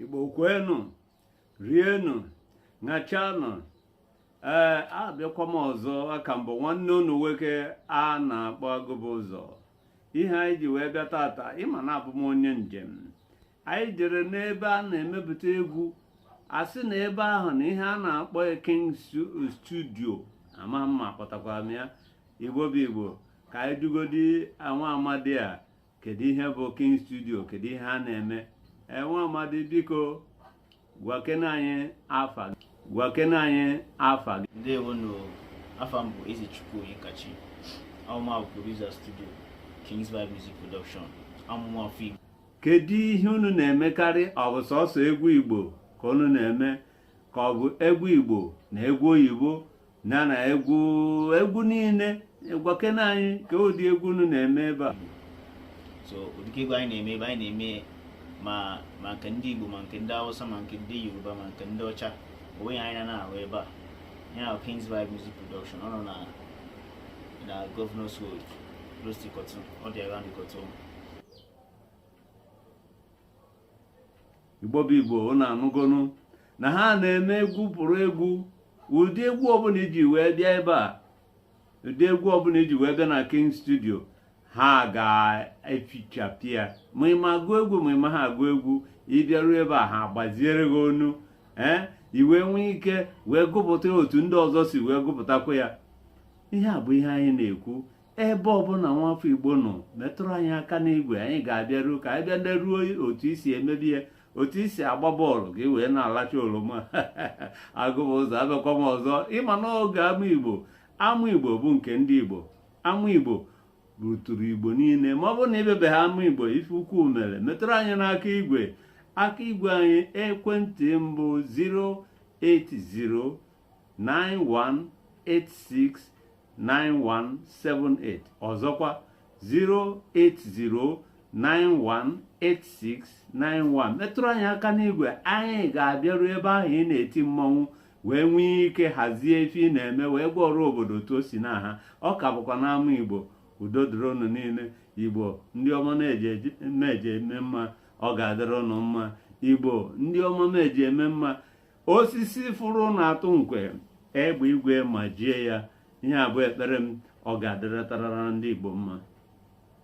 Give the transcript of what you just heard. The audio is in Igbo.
igbo kwenu rienu ṅachanụ ee abịakwa m ọzọ a ka m bụ nwanne unu nwoke a na-akpọ agụbụzọ ihe anyị ji wee bịa tata ị ma na abụ m onye njem anyị jere n'ebe a na-emepụta egwu a sị na ebe ahụ na ihe a na-akpọ king studio ama m ma kpọtakwara m ya igbo bụ igbo ka anyị jụgodi nwa amadi a kedu ihe bụ king studio kedu ihe a na-eme nwa amadi biko gwakene anyị afa gị gwakene anyị afa gị ndewonụ afa m bụ ezechukwu onyekachi amụwa bụ producer studio kings vibe music production abụ m nwa afọ igbo kedu ihe unu na-emekarị ọ bụ sọsọ egwu igbo ka unu na-eme ka ọ bụ egwu igbo na egwu oyibo na na egwu egwu niile gwakene anyị ka ụdị egwu unu na-eme ebe a so ụdị egwu anyị na-eme ebe a anyị na-eme ma ma nke ndị Igbo ma nke ndị Hausa ma nke ndị Yoruba ma nke ndị ọcha onwe ya anyị na-ahụ ebe a ya na Kings Vibe Music Production ọ nọ na na Governors Road close to Ikotun ọ dị around Ikotun igbo bụ igbo unu anụgonu na ha na-eme egwu pụrụ egwu ụdị egwu ọbụla i ji wee bịa ebe a ụdị egwu ọbụla i ji wee bịa na king studio ha ga-efichapụ ya ma ị ma agụ egwu ma ị maha agụ egwu ị bịaruo ebe a ha agbaziere gị onu ee i wee nwee ike wee gụpụta otu ndị ọzọ si wee gụpụtakwa ya ihe a bụ ihe anyị na-ekwu ebe ọbụla nwafọ igbo nọ metụrụ anyị aka n'igwe anyị ga-abịaru ka anyị bịa leruo otu i si emebe ya otu i si agba bọọlụ ka ị wee na-alacha oloma agụbụzọ abịakwa m ọzọ ị ma n'oge ama igbo ama igbo bụ nke ndị igbo ama igbo ruturu igbo niile ma ọ bụrụ na ị bịabeha ama igbo ife ukwu mere metụrụ anyị n'aka igwe aka igwe anyị ekwentị bụ 080 08091869178 ọzọkwa 080918691 metụrụ anyị aka n'igwe anyị ga-abịaru ebe ahụ ị na-eti mmọnwụ wee nwee ike hazie ife ị na-eme wee gwa ọra obodo otu o si na ha ọ ka bụkwa n'ama igbo udo dịrị unu niile igbo ndị ọma na-eji eme mma ọ ga-adịrị unu mma igbo ndị ọma na-eji eme mma osisi fụrụ na-atụ nkwe egbe igwe majie ya ihe a bụ ekpere m ọ ga-adịrịtarara ndị Igbo mma